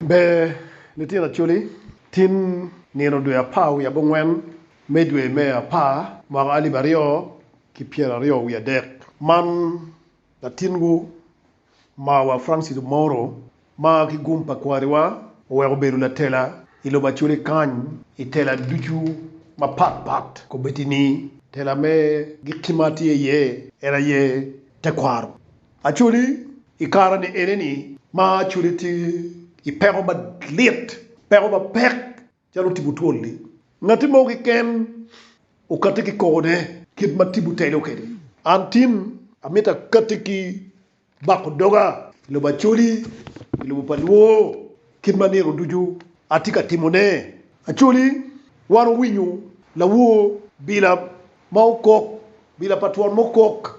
Ber, litino Acholi, tin nino dwe apar wiye abongwen me dwe me apar mwaka alip aryo ki pyera aryo wiye adek, man latinwu mawa Francis Omoro ma ki gum pa kwariwa oweko obedo latela i lobo Acholi kany i tela ducu mapat pat komitini tela me giki ma tye iye en aye tekwaro. Actually i kare ni eneni ma actually tye i peko malit, peko mapek calo tipo twol ni ngati mo keken okati ki koko ne kit ma tipo telo kedi. An tin amito akati ki bako doga i lobo Acholi, i lobo pa Luo kit ma nino ducu atye ka timo ne. Acholi wan owinyo lawor bila ma okok, bila pa twon mukok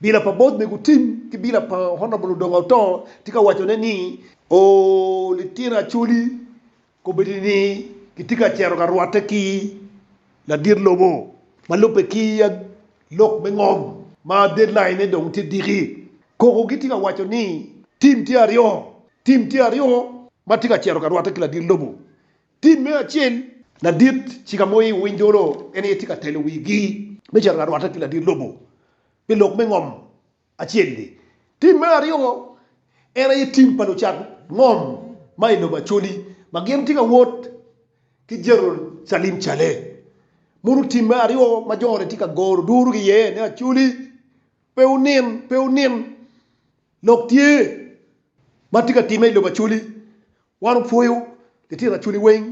Bila pa bot mego Tim ki bila pa Honable Odonga Otoo tye ka wacone ni, Oo litino Acholi, kobedi ni kitye ka cito ka rwatte ki ladit lobo ma lubbe ki lok me ngom ma deadline ne dong tye diki. Koko gitye ka waco ni Tim tye aryo, Tim tye aryo ma tye ka cito ka rwatte ki ladit lobo Tim me acel. Ladit cika mo i winy dolo en aye tye ka telo wigi me cito larwatte ki ladit lobo pi lok me ngom acel-li. Tim me aryo en aye tim pa lucat ngom ma i lobo Acholi ma gin tye ka wot ki Jerucalem calle. Mono tim me aryo ma jo-ni tye ka goro duru ki iye ni Acholi pe wunin, pe wunin. Lok tye ma tye ka timme i lobo Acholi Wan opwoyo litino acoli weng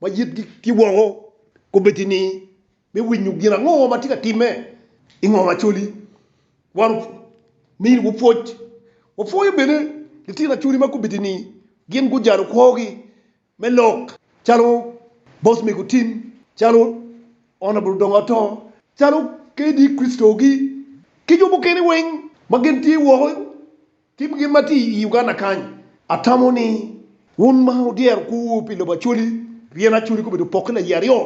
ma yitgi tye woko kombeddi ni me winyo gin ango ma tye ka timme i ngom acoli. Wan omiyogi pwoc. Wapwoyo bene litino acoli ma kombeddi ni gin gujalo kwogi me lok calo Bos Mego Tim, calo Honourable Dongo Atoo, calo KD Christo-gi ki jo mukene weng ma gin tye woko. Tim gin ma tye i Uganda kany. Atamo ni wun ma wudyero kwowu pi lobo Acholi, pien Acholi gubedo opokke laye aryo,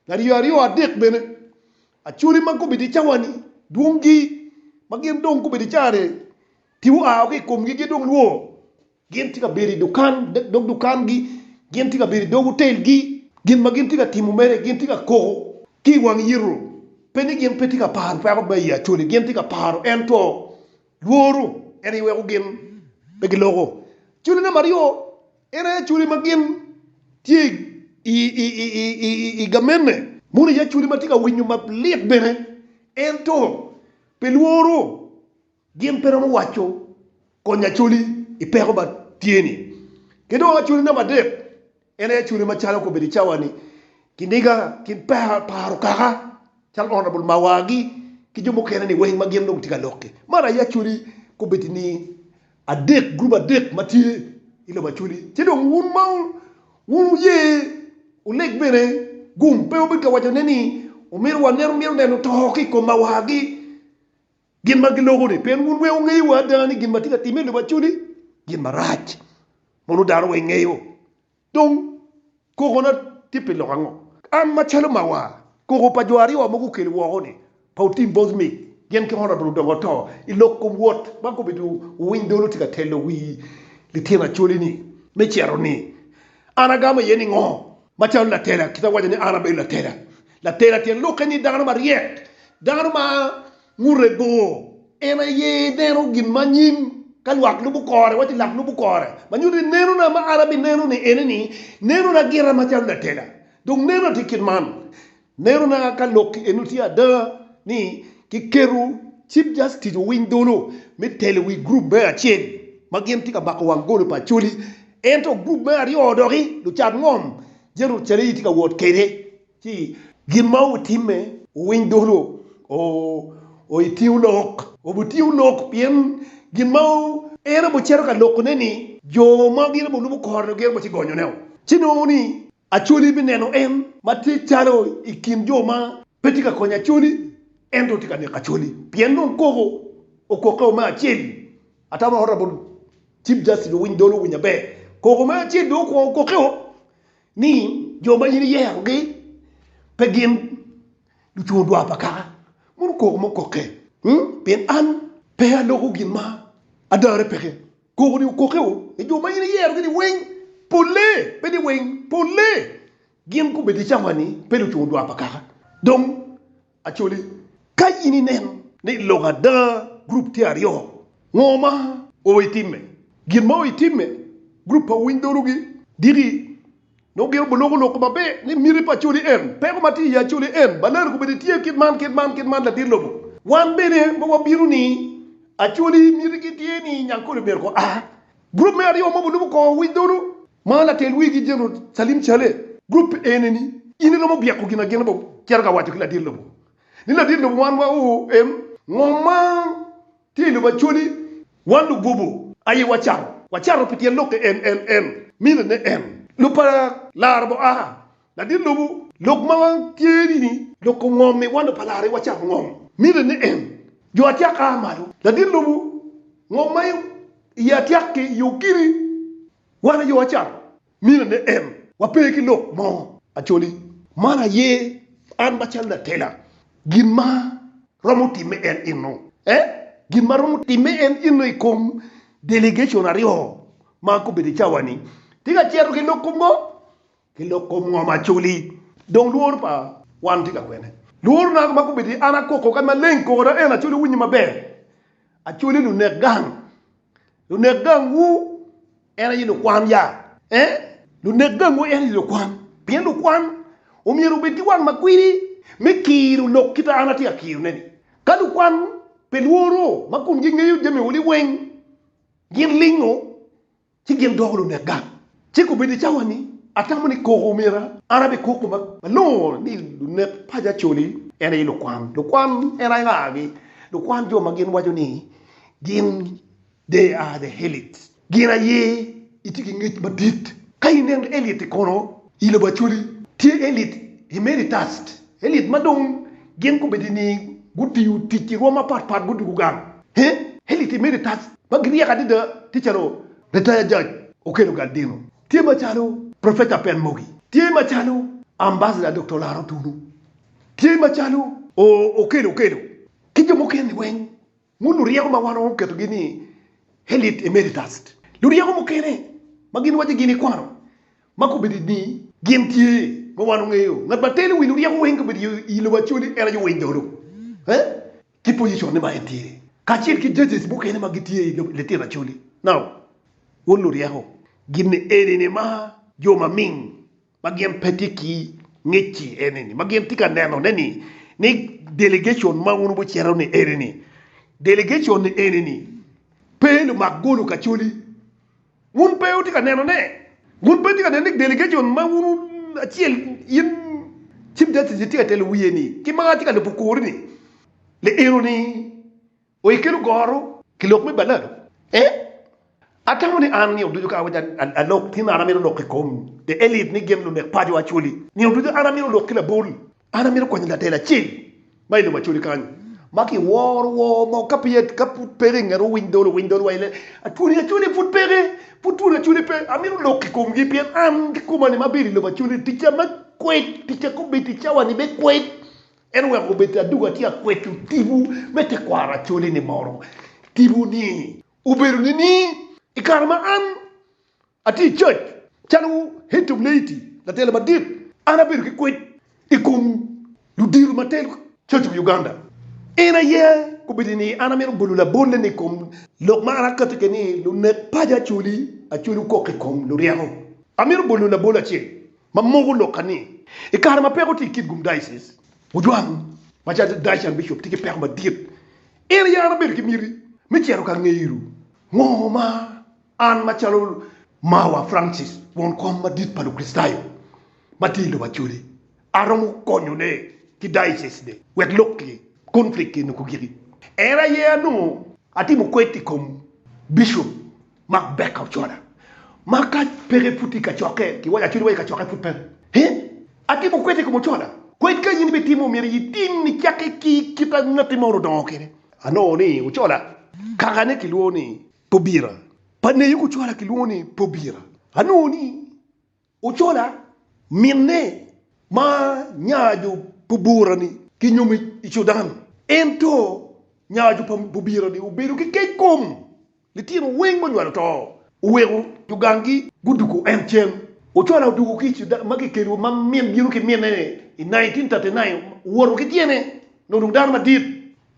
laryo aryo, adek bene. Acholi ma gubedo i cawa-ni, dwongi ma gin dong gubedo i cawa-ni, tipo oa woko i komgi, gin dong lwor. Gin tye ka bedo i dukan, dog dukangi, gin tye ka bedo i dog otelgi. Gin ma gin tye ka timo mere, gin tye ka koko ki i wang yito, pe ni gin pe tye ka paro peko ma i Acholi, gin tye ka paro ento Lworu en aye weko gin pe giloko cwinyi. Namba aryo, en aye cwinyi ma gin tye i gamenne. Moni aye cwinyi ma tye ka winyo malit bene. Ento pi lworu, gin pe romo waco konyi acoli i peko ma tye-ni. Ki dong cwinyi namba adek. En aye cwale macalo kobedo i cawa ni kiniga kin paro kaka calo Honourable Mawar gi ki jo mukene ni weng ma gin dong tye ka lok ki. Man aye acwali kobedo ni adek group adek ma tye i lobo acwali ci dong wun ma wun wuye uleg bene gum pe wubed ka waco ne ni omito waneno mito neno to ki i kom Mawar gi Gin ma giloko-ni, pien wun weng wungeyo wa ada ni gin ma atye ka timme i lobo acoli gin marac, mono dano weng ngeyo. Dong, kokona tye pi lok ango? An macalo mawa, koko pa jo aryo ma gukelo woko-ni, pa otim bot ni gin kit ma Labolo odongo ato i lok kom Wot ma kobedo wuwiny dolo tye ka telo wi lityen acoli-ni me cito ni, An agamo iye ningo? Macalo latela, kit awaco ni an abedo latela, Latela tyen lokke ni dano maryek, dano ma ngute bor. En aye neno gin ma anyim ka lwak lubo kore, wacci lak lubo kore. Ma nyuto ni nenona ma an abineno ni ene ni, nenona gira macalo latela. Dong nenona tye kit man, nenona ka lok eno tye ada ni kiketo Chief Justice owiny dolo me telo i wi gurup me acel ma gin tye ka mako wang goli pa Acholi, ento gurup me aryo doki lucat ngom. Jerucalem tye ka wot kede ci gin ma wutimme wuwiny dulu oo i tingu lok, wubitingu lok pien gin ma en obicito ka lokone ni jo ma gin obulubo korone gin obici gonyoneo. Ci nongo ni Acholi bineno en ma tye calo i kin jo ma pe tye ka konyo Acholi ento tye ka neko Acholi pien dong koko okokkeo me acel. Atamo ata bot Chief Justice owiny dolo owiny aber. Koko me acel dong okwongo okoke o ni jo ma in iyero gi pe gin lucungo dwar pa kaka. Mono koko mo koke. Hmm? Pien an pe aloko gin ma adare peke. Koko ni okoke o ni jo ma in iyero gi ni weng pole, pe ni weng, pole gin gubedi cawa ni pe lucungo dwar pa kaka. Dong. Acholi, Ka in ineno ni i lok ada gurup tye aryo, ngo ma oweko itimme? Gin ma oweko itimme, gurup pa Winy Dhogi Diki nongo gin guloko lok maber ni miti pa Acholi en, peko ma tye i Acholi en, Balere kobedi tye kit man, kit man, kit man, ladit lobo. Wan bene ma wabino ni Acholi mitigi tye ni Nyankole myero ko a. Gurup me aryo ma gulubo kor wic dolo ma latel wigi Gen. Salim Saleh, gurup ene ni in iromo byeko gin agina bop cito ka waco ki ladit lobo ni ladit lobo wan wa oo em ngom ma tye ilobo Acholi wan lugobo aye wacato wacato pi tyen lok NNN mine ne en lub pa laro bo aa Ladit lubu lok ma wan tye ni ni lok kom ngom ni wan pa lari wa cam ngom mite ni en jo atyak aa malo ladit lubu ngom ma iye atyak ki yo kidi wan ayo acam mite ni en wa pe ki lok mo acoli man aye an ma cal latela gin ma romo time en inu e gin ma romo time en inu ikom delegation aryo ma gubedo icawa ni tye ka cito ki lok kom ngom. Ki lok kom ngom acoli. Dong lworo pa wan tye ka kwene? Lworo na ma kobedo ni an akoko kadi maleng koko na en acoli winyo maber. Acoli lunek gang. Lunek gang wu en aye lukwan ya eh? Lunek gang wu en aye lukwan. Pien lukwan omyero obed ki wang ma kwidi me kiro lok kita an atye ka kiro ne ni. Ka lukwan pe lworo ma komgi ngeyo jami oli weng gin lingo Ci gin doko lunek gang, ci gubino i cawa ni, Atamo ni koko omyera an abed koko ma nongo ni lunek paco acoli, en aye lukwan. Lukwan en aye nga gi? Lukwan jo ma gin waco ni gin they are the elite. Gin aye gitye ki ngec madit. Ka ineno elite kono I lobo Acholi tye elit Emeritast, elit ma dong gin gubedo ni gutiyo tic i rwom mapat pat gudwogo gang. Elit Emeritast ma giryek adada tye calo, Retire Judge Okello Galdino, tye macalo, Professor Pen Mogi, tye macalo, Ambassador Doktor Laro Tunu, tye macalo, Okello Okello, ki jo mukene weng Ngut luryeko ma wan onongo guketogi ni Elite Emeritus. Luryeko mukene ma gin waco gin ikwano ma kobedo ni gin tye ma wan ongeyo. Ngat ma telo wi luryeko weng kobedo i lobo Acholi en aye Winy Dolo. Ki position ne ma en tye kacel ki judges mukene ma gitye i lobo litino Acholi. Now, ngut luryeko gin eni ni ma jo maming. ma gin pe tye ki ngec-ci eni ni ma gin tye ka nenone ni ni delegecon ma wun wucito ni eni ni delegecon ni eni ni pe lumak golo kacoli wun pe wutye ka nenone wun pe wutye ka neno ni delegecon ma wun acel in cip jacic itye ka telo wiye ni ki ma atye ka lubo kori ni li eno ni Oye kelo goro ki lok me balado e. Atamo ni an nino ducu ka awaco alok tin an amito lok ikom the elite ni gin lunek paco Acholi. Nino ducu an amito lok ki labol. An amito konyo latel acel ma ilobo Acholi kany ma ki woro wor mo ka peya ka pud peke ingeto owiny dol owiny dol wa ile twoni Acholi pud peke pud twoni Acholi pe amito lok ikom gi pien an kikoma ni ma abedo ilobo Acholi ticca me kwed ticca kobedi ticca wa ni me kwed En oweko obed aduga ci akweco tipo me tekwaro acole-ni moro. Tipo ni obedo nining? I kare ma an atye i cac, calo Hetom Leiti, latelo madit, an abedo ki kwed i kom ludito ma telo cac i wi Uganda. En aye obedo ni an amito bolo labolle-ni i kom lok ma an akatti kwede ni lunek paco acoli, acoli okok i kom luryeko. Amito bolo labol acel. ma moko lokka ni i kare ma peko tye i kit gum diocese, ojwang ma calo Diocesan Bishop tye ki peko madit. In aye an abedo ki miti me cito ka ngeyo ngo ma an ma calo Mawa Francis, won kom madit pa Lukricitayo ma tye i lobo Acholi, aromo konyone ki diocese ni wek lok ki conflict eni gugiki. En aye anongo atimo kwed i kom Bishop Mark Becker ocola ma ka peke pud tye i kacokke, kiwaco acwiny wa i kacokke pud pe. He, atimo kwede i kom ocola. Kwed ka in ibitimo omyero itim icakke ki kite ma ngatti moro odongo kwede. Anongo ni ocola kakane kilwongo ni Pobira, pa Neyuki ocola kilwongo ni Pobira. Anongo ni. Ocola, minne ma nya jo Pubura-ni kinyomo i Cudan. Ento nya jo Pubira-ni obedo ki kec kom litino weng ma onywalo to, oweko jo ganggi guduko en cen. Ocola oduko ki i Cudan ma kikelo ma min bino ki minne-ni i 1939, owoto ki tyene nongo dong dano madit.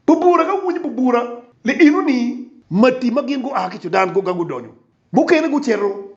Pubura ka winyo Pubura, lienoni mati ma gin gua ki Cudan guga gudonyo, mukene gucito.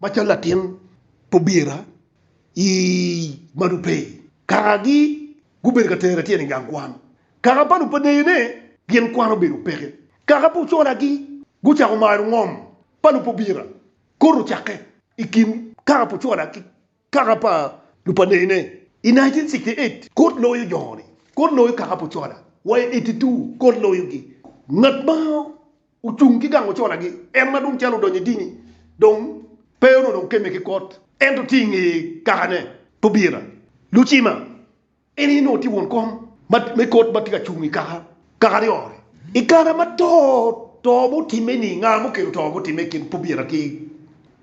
Macalo latin obira i Madupey, kakagi gubedo ka tera tyene i gang kwan. Kaka pa lupaneyo ne gin kwan obedo peke. Kaka pa ocolagi gucako maro ngom pa lupobira koto cakke i kin kaka pa ocola ki kaka pa lupaneyo ne. I 1968 kot loyo joni, kot loyo kaka pa ocola, wa i 82 kot loyogi. Ngat ma. Ocung ki gang oconagi, en ma dong calo odonyo i dini dong pe onongo dong kemme ki kot, ento tye i nge kakane Tobira Lucima, en aye onongo tye won kom me kot ma tye ka cung i kaka kaka aryo-ni. I kare ma to to ma otimme-ni, nga ma okelo to ma otimme i kin Tobira ki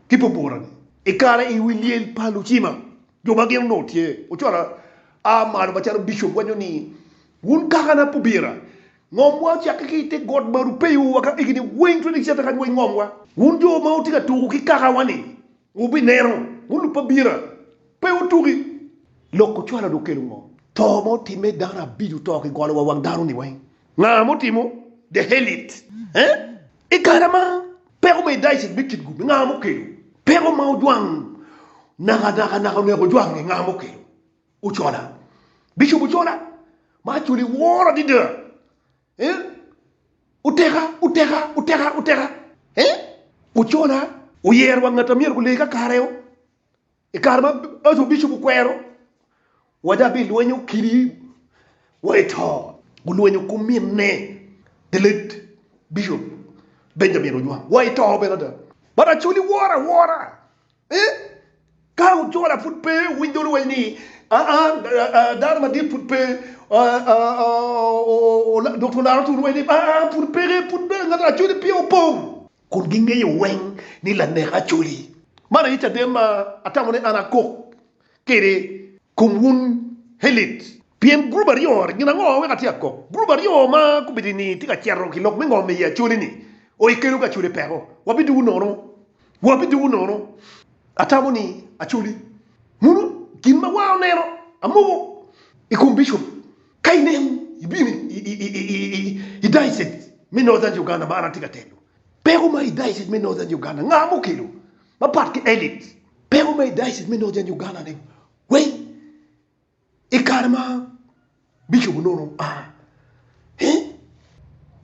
ki Tobura-ni? I kare i wi lyel pa Lucima, jo ma gin onongo tye ocwalo a malo macalo Bicop waco ni, Wun kakana Tobira Ngomwa ocakke ki i te got ma rupeyo wa ka higini weng 20 cente kany wa i ngomwa. Wun jo ma wutye ka tuko ki kakawa-ni, wubineno, wun lub pa bira, pe wutuki! Lok ocwalo-ni okelo ngo? To ma otimme dano abico to ki golo wa wang dano-ni weng. Nga ma otimo? The Hellit. Eh? I kare ma peko me Daicet me kit gub-bi, nga ma okelo? Peko ma ojwang nakanaka naka oneko ojwange, nga ma okelo? Ocola, Bicop Ocola ma acwali iworo adada eh Oteka, Oteka, Oteka, Oteka eh Ocola. Oyero wa ngat a myero gule kakare o. I kare ma Ajo Bicop okwero wa dok bilwenyo okili wa i to, gulwenyo kuminne the late Bicop Benjamin Ojwang wa i to bene ada. But acwali iworo awora. Ee, ka ocola pud pe owiny dolo weny ni, aa, dano madit pud pe dok olaro tunu weny ni, aa, pud peke, pud bene ngat acoli pye opong. Kun gingeyo weng ni lanek acoli. Man aye caden ma atamo ni an akok. kede komwun Helit. Pien gurup aryo gin ango wek atye ka kok? Gurup aryo ma gubedini tye ka cito ki lok me ngom i acoleni. O ikelo ka acoli peko, wabidwogo nono, wabidwogo nono. Atamo ni acoli munu gin ma war oneno amoko i kom Bishop. Ka inen ibino i daycet me Northern Uganda ma an atye ka telo, peko ma i daycet me Northern Uganda nga ma okelo? Mapat ki Elit, peko ma i dayocit me Northern Uganda ni weng i kare ma Bishop Onono a i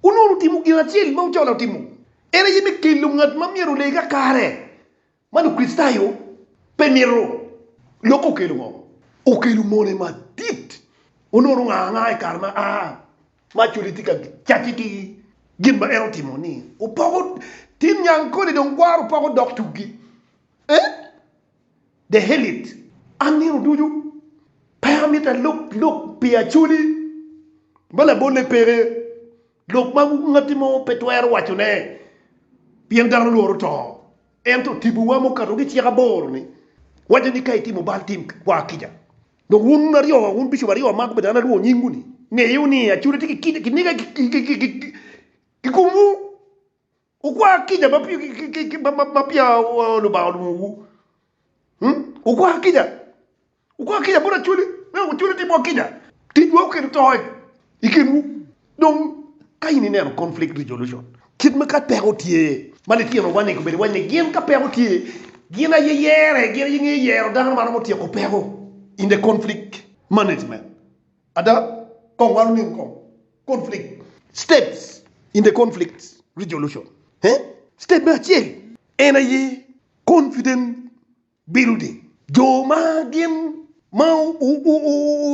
Onono otimo gin acel ma Ocola otimo, en aye me kelo ngat ma myero olee kakare ma Lukricitayo pe mito. Lokke okelo ngo? Okelo mone madit. Onono ongaa angaa i kare ma a Maculi tye ka cacce ki gin ma en otimo ni opoko tim nyang koli dong gwaro opoko dok tuggi eh the hell it. An nino ducu pe amito alok lok pi Aculi ma labole peke, lok ma ngatti mo pe twero wacone pien dano lworo to. Ento tibuwa mukato ki cik aboro ni waco ni ka itimo bal tim kwa kica. Dok wun aryo, wun bicop aryo ma gubedo an alwongo nyingu-ni, ngeyi wunu ni acude tye ki niga i komwu. Wukwa kica ma peya Lubanga olwongowu. Wukwa kica, wukwa kica bot acwali, me wek acwali otimwa kica. Ticwa oketo toc i kinwu. Dong, ka in ineno conflict resolution kit ma ka peko tye ma litino wa ni gubedo wacci ni gin ka peko tye gin aye yere, gin aye ngeyo yero dano ma romo tyeko peko in the conflict management. Ada, kong wa lulim kong conflict steps in the conflict resolution. Step me acel en aye confident. Bedo ni jo ma gin ma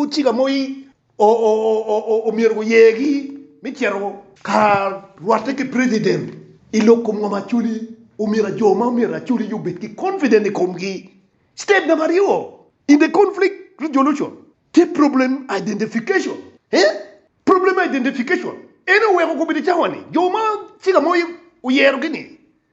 ocika moyi omyero guyegi me cito ka rwatte ki president i lok kom ngom Acholi, omyero jo ma omyero Acholi obed ki confident i komgi. Step namba aryo in the conflict resolution tye problem identification. Problem identification en aye oweko gubedo cawa ni jo ma cika moyi oyero gi ni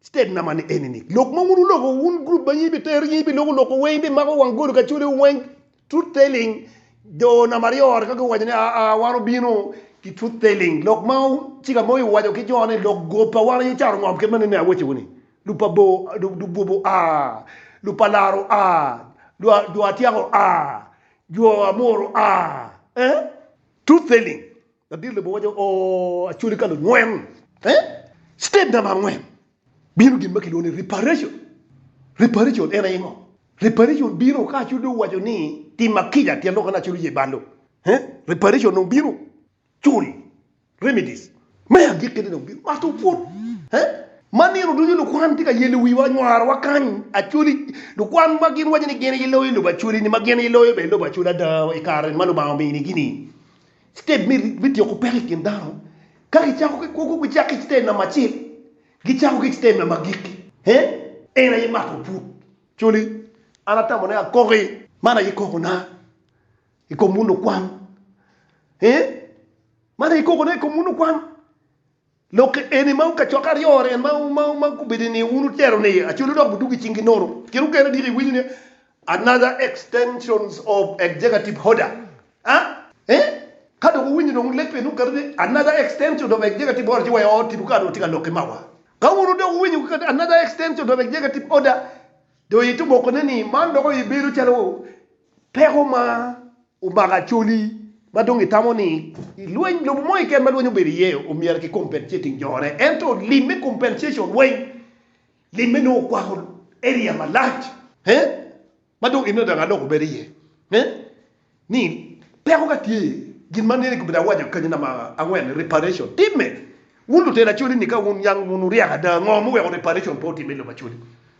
State number ni eni ni. Lok ma wun wuloko wun group ma in ibitero in ibiloko loko weng ibimako wang gol kacolewu weng truth telling jo namba aryo ka guwaco ni aa wan obino ki truth telling lok ma cika moyo owaco ki jo ni lok gop pa wan aye caro ngom kit manene awacowu ni lub pa bo lub gobo a lub pa laro a jo atyako a jo amoro a eh truth telling Ladit lobo waco, Ooh, Acholi ka lungwen, eh? Step namba angwen, bino gin ma kilwongo ni reparation. Reparation en aye ngo? Reparation bino ka Acholi dong owaco ni tima kica tyen lok ane Acholi oye bal dong, eh? Reparation dong bino, cul, remedies. Me agikkine dong bino mato pwod, eh? Ma nino ducu lukwan tye ka yelo wiwa, nywarowa kany, Acholi, lukwan ma gin waco ni gin aye loyo lobo Acholi-ni, ma gin aye loyo bene lobo Acholi ada i kare ma Lubanga ominigi-ni. State me me tiyo ku peko i kin dano ka ki cako ki kwogo gi cako ki state number acel gi cako ki state number agikki he en aye mato put coli an atamo ne akoki man aye koko na i kom munu kwan he man aye koko na i kom munu kwan. Lok eni ma kacokke aryo en ma gubedo i niye wun wutero ni Acholi dok budwogo i cingi nono. Kit mukene adyeki iwinyo ni another extensions of executive order ah eh ka dong wuwinyo dong lek eni wuketo ni another extensions of executive order ci waya oo tipo ka dong tye ka lok ki mawa. Ka wun dong wuwinyo guketo another extensions of executive order dong itye obokone ni man doko ibedo calo Peko ma omako Acholi ma dong itamo ni i lweny lobo mo keken ma lweny obedo iye omyero ki compensating jone ento lim me compensation weng limme nongo okwako area malac he ma dong ineno dong aloko bedo iye he ni peko ka tye gin ma nene kibedi awaco kany namba angwen reparation timme wun lutela Acholi ni ka wun yang wun wuryek ada ngo muweko reparation pe otimme i lobo Acholi.